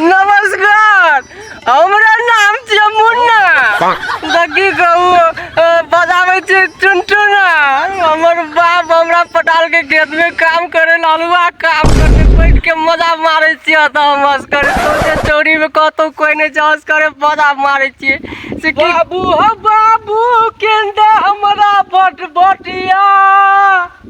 नमस्कार हमरा नाम छियै मुन्ना तऽ की कहू अ, बजाबै छियै टुनटुना हमर बाप हमरा पटाल के खेत में काम करे ला हलुआ काम करते बैठ के मजा मारे छियै तऽ हम असकर सोचे चोरी में कतौ कोई नहीं छै असकर मजा मारे छियै से की बाबू हो बाबू केंदा हमरा बट बटिया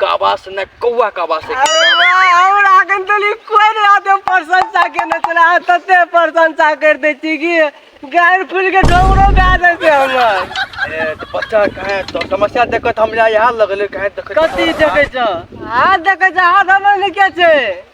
का आवाज से ना कौआ का आवाज से और आगन तली कोई नहीं आते प्रशंसा के न चला तते प्रशंसा कर दे छी कि गायर फूल के ढोंगरो गा दे से हमर ए, तो बच्चा कहे तो समस्या देखत हमरा यहाँ लगले कहे देखत कथी देखे छ हाथ देखे छ हाथ हमर ने के छै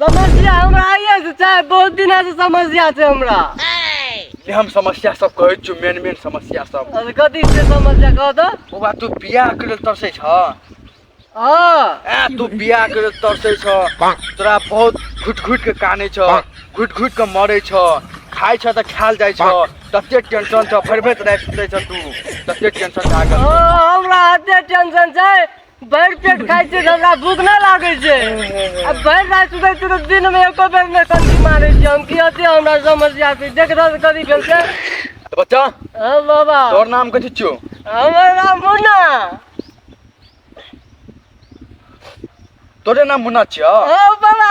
समस्या हमरा आइए से छै बहुत दिन से समस्या छै हमरा हम समस्या सब कहै छु मेन मेन समस्या सब अरे कथी छै समस्या कह दो ओ बात तू बियाह के लेल तरसै छ हां ए तू बियाह के लेल तरसै छ तोरा बहुत घुट घुट के काने छ घुट घुट के मरे छ खाइ छ त खाल जाइ छ तते टेंशन छ भरि भरि राति सुतै छ तू तते टेंशन लागल हमरा एते टेंशन छै भरि पेट खाइ छियै तऽ हमरा भूख नहि लागै छै आ भरि राति सुतै छियै तऽ दिनमे एको बेर नहि कनकी मारै छियै हम की अथी हमरा समस्या छै देख रस करी भेल छै तो बच्चा हँ बाबा तोर नाम कथी छियो हमर नाम मुन्ना तोरे नाम मुन्ना छियो हँ बाबा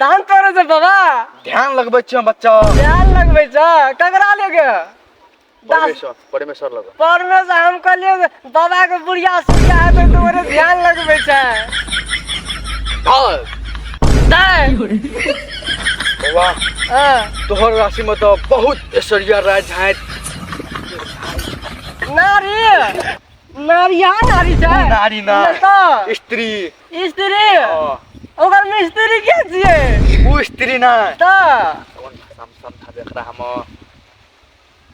धान तोड़े छै बाबा ध्यान लगबै छियै बच्चा ध्यान लगबै छ ककरा लेके परमेश्वर परमेश्वर लग परमेश्वर हम कहलिए बाबा के बुढ़िया सुखिया है तो तोरे ध्यान लगबे छै हां बाबा तोहर राशि में तो बहुत ऐश्वर्या राय झाय नारी नारी यहाँ नारी छै नारी ना तो स्त्री स्त्री हँ ओकर मिस्त्री के छियै ओ स्त्री ना तऽ कोन भाषा में समझाबे एकरा हम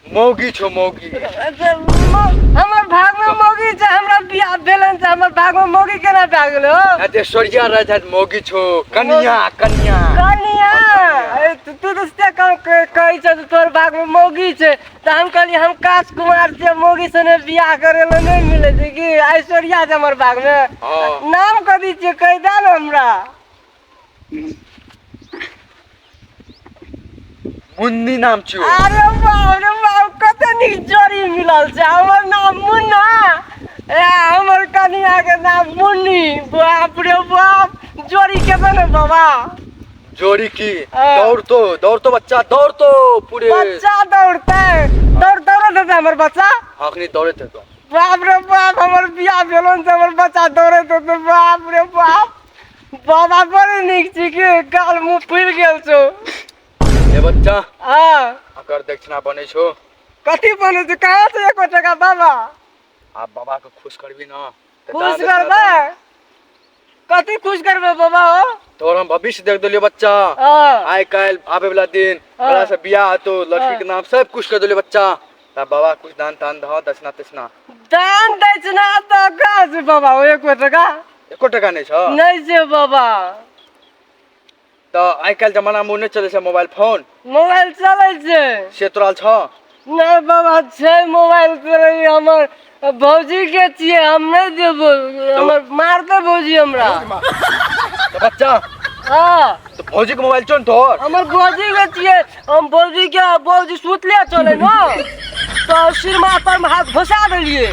मौगी छो मौगी अच्छा, मौ- हमर भाग में मौगी छै हमरा बियाह भेलन छै हमर भाग में मौगी केना भए गेलो आ जे सोरिया रह जात मौगी छो कनिया कनिया कनिया ए, तू तू तऽ से कह- कह- कहै छ तोहर भाग में मौगी छै तऽ हम कहली हम काश कुमार से मोगी सने बियाह करे ला नहीं मिले छै कि ऐश्वर्या से हमर बाग में हाँ। नाम कह दी छियै कह दे ना हमरा मुन्नी नाम छियो अरे बाप रे बाप कते नीक जोड़ी मिलल छै हमर नाम मुन्ना ए हमर कनिया के नाम मुन्नी बाप रे बाप जोड़ी केतन है बाबा जोड़ी की हाँ। दौड़ तो दौड़ तो बच्चा दौड़ तो पूरे बच्चा दौड़ते दौड़ दौड़त हेतै हमर बच्चा अखनी दौड़े थे तो बाप रे बाप हमर बियाह भेलन से हमर बच्चा दौड़त हेतै बाप रे बाप बाबा बड़े नीक छी कि गाल मुँह फुलि गेल छौ ए बच्चा हाँ अकर दक्षिणा बने छो कथी बनै छै कहाँ से एको टका बाबा आ बाबा के खुश करबी ना तऽ खुश दान कर दे दे कथी खुश करबे बाबा हो तोहर हम भविष्य देख देलियो बच्चा हाँ, आइ काल्हि आबे वाला दिन हाँ। बड़ा से बियाह हतो लड़की के नाम सब कुछ कर देलियो बच्चा ता बाबा कुछ दान तान दह दक्षिणा तक्षिणा दान दक्षिणा तो कहाँ से बाबा हो एको टका एको टका नहीं छ नहीं से बाबा तऽ आइ काल्हि जमाना मे नहि चलै छै मोबाइल फोन मोबाइल चलै छै से तोरा लग छौ नहि बाबा छै मोबाइल चलै हमर भौजी के छियै हम नहि देबो हमर मारते भौजी हमरा तऽ बच्चा हँ तऽ भौजी के मोबाइल छौ ने तोहर हमर भौजी के छियै हम भौजी के भौजी सुतले चले ने तो सिरमा पर में हाथ घुसा देलिए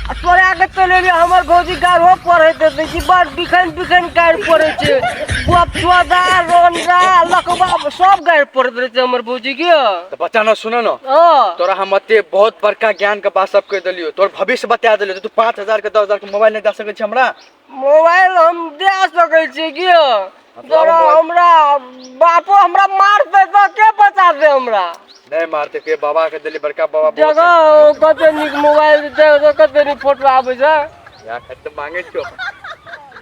आ तोरा के चले एलियै हमर भौजी गाढ़ो पढ़े दे दै छी बड़ बिखन बिखन गाड़ पड़े छै गप सोदा रोनरा लकबा सब गाड़ पड़े दे छै हमर भौजी के तऽ बच्चा न सुन न हाँ तोरा हम एते बहुत बड़का ज्ञान के बात सब कह देलियो तोर भविष्य बता देलियो तू पाँच हजार के दस हजार के मोबाइल नहीं दे सकै छी हमरा मोबाइल हम दे सकै छी कि यौ तोरा हमरा बापो हमरा मारतै तऽ के बचातै हमरा नहि मारते के बाबा के देली बड़का बाबा बहुत जगह कते नीक मोबाइल दे तऽ कते नीक फोटो आबै छै छै। या खत तऽ मांगे छो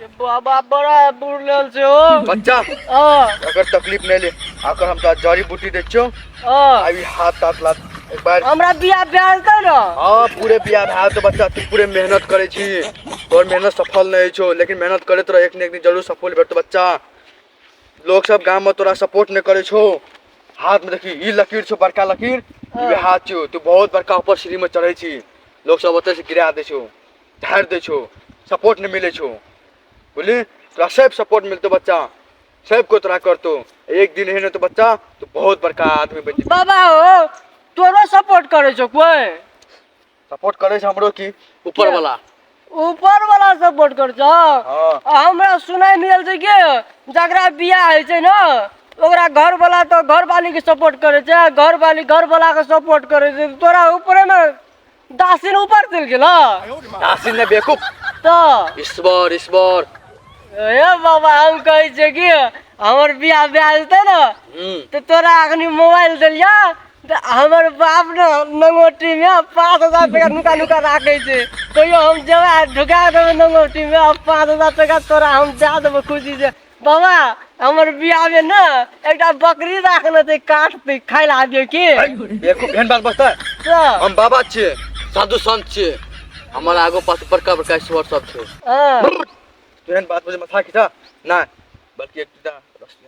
ये बाबा बड़ा बुढ़ लेल छै हो बच्चा हाँ अगर तकलीफ नहीं ले अगर हम तो जड़ी बूटी दे छो हाँ अभी हाथ ताथ लात एक बार हमरा बियाह भेल त न हाँ पूरे बियाह भए तो बच्चा तू पूरे मेहनत करे छी तोर मेहनत सफल नहीं छो लेकिन मेहनत करत रह एक न एक दिन जरूर सफल भेटतो बच्चा लोग सब गांव में तोरा सपोर्ट नहीं करे छो हाथ में देखी ई लकीर छो बड़का लकीर ई हाथ छो तू बहुत बड़का ऊपर सीढ़ी में चढ़े छी लोग सब ओते से गिरा दे छो झाड़ दे छो सपोर्ट नहीं मिले छो बोली तोरा सब सपोर्ट मिलतो बच्चा सब को तोरा करतो एक दिन एहन तो बच्चा तो बहुत बड़का आदमी बन जेबी बाबा हो तोरो सपोर्ट करे छो कोई सपोर्ट करे छै हमरो की ऊपर वाला ऊपर वाला सपोर्ट कर छो हां आ हमरा सुनाई मिलल छै कि जकरा बियाह होइ छै ना ओकरा घर वाला तो घर वाली के सपोर्ट करे छै घर वाली घर वाला के सपोर्ट करे छै तोरा ऊपरे में दस दिन ऊपर चलि गेल दस दिन बेकूफ तऽ ईश्वर ईश्वर ए बाबा हम कहै छियै कि हमर बियाह भए जेतै ने हम्म। तऽ तोरा अखनी मोबाइल देलिया तऽ हमर बाप ने नंगोटी मे पाँच हजार टका नुका नुका राखै छै कहियो हम जेबै ढुका देबै नंगोटी मे आ पाँच हजार टका तोरा हम दए देबो खुशी से बाबा हमर बियाह में ना एकटा बकरी राखने थे काट पे खाए ला दियो की एको भेन बात बस्ता तो हम बाबा छे साधु संत छे हमर आगो पास बड़का बड़का ईश्वर सब छे हाँ। तुरंत बात बजे मथा खिचा ना बल्कि एक टा रस्सी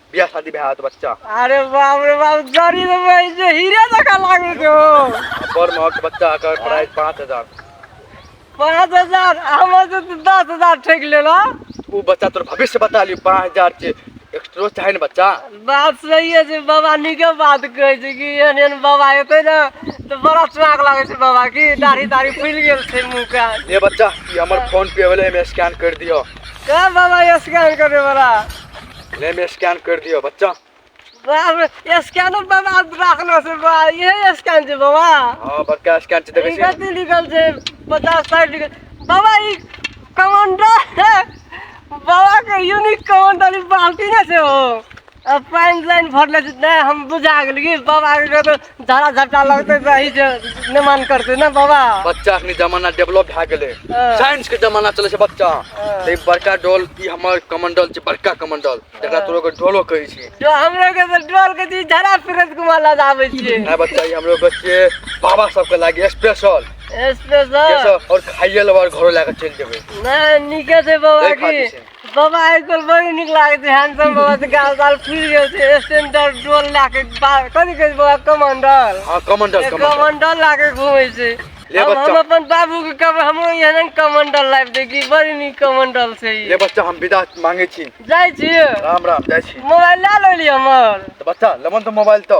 बियाह शादी भए होत बच्चा अरे बाप रे बाप जरी रे भाई जे हीरे जका लागू जो बड़ महक बच्चा का प्राइस पाँच हजार पाँच हजार हम से तो दस हजार ठेक ले ला वो बच्चा तोर भविष्य बता लियो पाँच हजार के एक्स्ट्रो चाहे ना बच्चा बात सही है जे बाबा निके बात कहे छै कि एहन एहन बाबा एतै ना तो बड़ा स्वाग लागे छै बाबा की दाढ़ी दाढ़ी फूल गेल छै मुंह का ये बच्चा ये हमर फोन पे वाले में स्कैन कर दियो का बाबा ये स्कैन करे वाला ले मैं स्कैन कर दियो बच्चा बाप रे स्कैन बाबा राखलो से बा ये स्कैन जे बाबा हां बड़का स्कैन छै देखै छी कते लिखल छै 50 साइड लिखल बाबा ई कमांडर बाबा के यूनिक कमांडर बाल्टी ना से हो अब पाइन लाइन भरले से नहीं हम बुझा गेल कि बाबा के तो धारा झट्टा लगते रही जे नहि मान करते ने बाबा बच्चा अखनी जमाना डेवलप भए गेले हाँ। साइंस के जमाना चले छै बच्चा हाँ। ते बड़का डोल ई हमर कमंडल छै बड़का कमंडल जकरा हाँ। तोरो के डोलो कहै छी जो हम लोग के तो डोल के जी झरा फिरत घुमा ला जावे छिए ना बच्चा ई हमरो के छिए बाबा सब के लागे स्पेशल स्पेशल और खाइए लेबा और घरो लेके चल जेबे ना निके से बाबा की बाबा आइ काल्हि बड़ी नीक लागै छै हैंडसम बाबा से गाल साल फूल गेल छै स्टैंडर्ड डोल लए के बा- कथी कहै छै बाबा कमंडल हाँ कमंडल एक कमंडल कमंडल लए के घूमै छै ले हम बच्चा। हम अपन बाबू के कहबै हमरो एहन कमंडल लाइफ देखी बड़ी नीक कमंडल छै ई। ले बच्चा हम विदा मांगे छी जाइ छी राम राम जाइ छी मोबाइल लए लेली हमर तो बच्चा लमन तो मोबाइल तो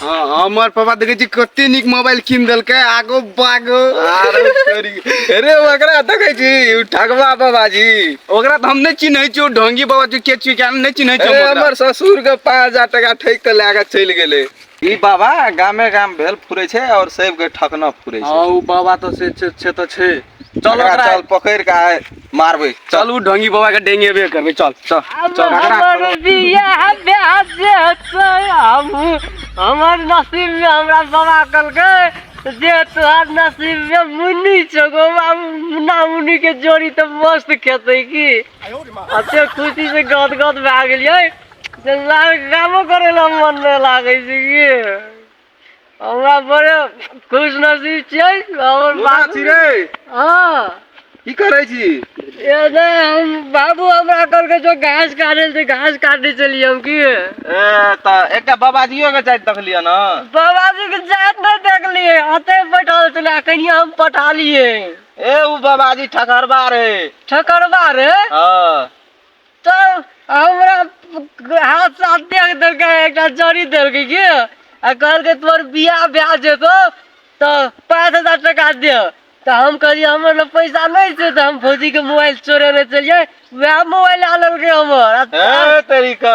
हाँ हमर पापा देखे छी कते निक मोबाइल किन देलकै आगो बागो आरो करी अरे ओकरा देखे छी उ ठगवा बाबा जी ओकरा त हम नै चिन्है छी उ ढोंगी बाबा जी के छी के हम नै चिन्है छी अरे हम ओकरा। हमर ससुर के पाँच हजार टका ठैक के लए के चलि गेलै ई बाबा गामे गाम भेल फुरै छै और सबके ठकना फुरै छै हाँ उ बाबा त से छै छै त छै चल एकरा ओकरा- चल पकड़ के आय मारबै चल चल उ ढंगी बाबा के डेंगेबे करबे चल चल अब चल एकरा हमर बियाह ब्याह जे हेतै हम हमर नसीब में हमरा बाबा कहलकै जे तोहर नसीब में मुन्नी छौ गो बाबू मुन्ना मुन्नी के जोड़ी तऽ मस्त खेतै की अते खुशी से गद गद भए गेलियै जे ला- कामो करे ला मन नहि लागै छै की हमरा बड़े खुश नसीब छियै हमर कोना बाबू छी रे हाँ की करै छी ये नहीं हम बाबू हमरा कल के जो घास काटे से घास काटे चलिए हम की ए तऽ एकटा बाबाजियो के जाइत देखलियै ने बाबा जी के जात नहीं देख लिए अते बैठल चला कनिया हम पटा लिए ए उ बाबाजी ठकरबा रहे ठकरवा रे हँ तऽ हमरा हाथ साथ देख देलकै एकटा जड़ी देलकै की आ कहलकै तोर बियाह भए जेतौ तऽ पाँच हजार टका दे तऽ हम कहलियै हमर लग पैसा नहि छै तऽ हम भौजीके मोबाइल चोरेने चलियै वएह मोबाइल लए लेलकै हमर आ ए तरीका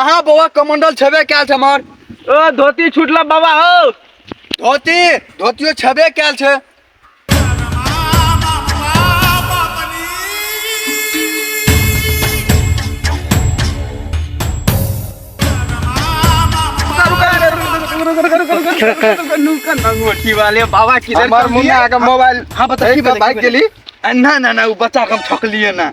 अहाँ बौआ कमंडल छेबे कयल छै हमर ओ धोती छूटल बाबा हो धोती धोतियो छेबे कयल छै की वाले बाबा किधर हमर मुन्ना के मोबाइल हाँ बता की बाइक गेली ना ना ना वो बच्चा के हम ठकलिए ना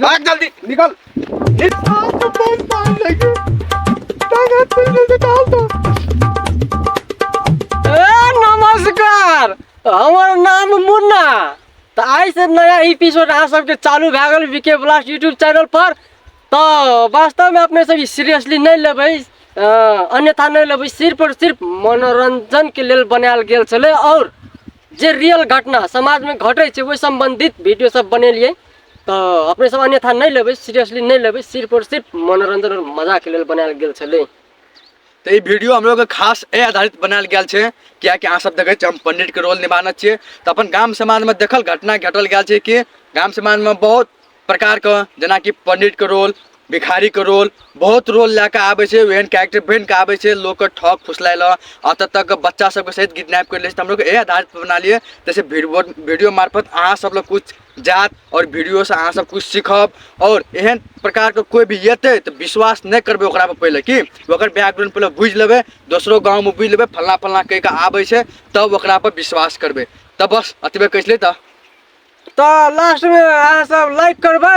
भाग जल्दी निकल ए, नमस्कार हमर नाम मुन्ना तऽ आइ से नया एपिसोड अहाँ सबके चालू भए गेल वीके ब्लास्ट यूट्यूब चैनल पर तऽ वास्तवमे अपने सब ई सीरियसली नहि लेबै अ, अन्यथा नहि लेबै सिर्फ और सिर्फ मनोरञ्जनके लेल बनायल गेल छलै आओर जे रियल घटना समाजमे घटै छै ओहि सम्बन्धित वीडियो सब बनेलियै तऽ अपने सब अन्यथा नहि लेबै सीरियसली नहि लेबै सिर्फ आओर सिर्फ मनोरञ्जन आओर मजाके लेल बनायल गेल छलै तऽ ई वीडियो हम लोगके खास एहि आधारित बनायल गेल छै किएकि अहाँ सब देखै छियै हम पंडितके रोल निभाना छियै तऽ अपन गाम समाजमे देखल घटना घटल गेल छै कि गाम समाजमे बहुत प्रकारके जेनाकि पंडितके रोल भिखारीके रोल बहुत रोल लए कऽ आबै छै ओहन कैरेक्टर बनि कऽ आबै छै लोकके ठक फुसलाय लए आ तब तक बच्चा सबके सहित किडनैप करि लै छै तऽ हम लोग एहि आधारित बना लियै जैसे वीडियो मार्फत अहाँ सब लग किछु जात आओर वीडियोसँ अहाँ सब किछु सीखब आओर एहन प्रकारके कोइ भी एतै तऽ विश्वास नहि करबै ओकरापर पहिले की ओकर बैकग्राउंड पहिले बुझि लेबै दोसरो गाँवमे बुझि लेबै फल्लाँ फल्लाँ कहि कऽ आबै छै तब ओकरापर विश्वास करबै तऽ बस अतबे कहै छलियै तऽ तऽ लास्टमे अहाँ सब लाइक करबै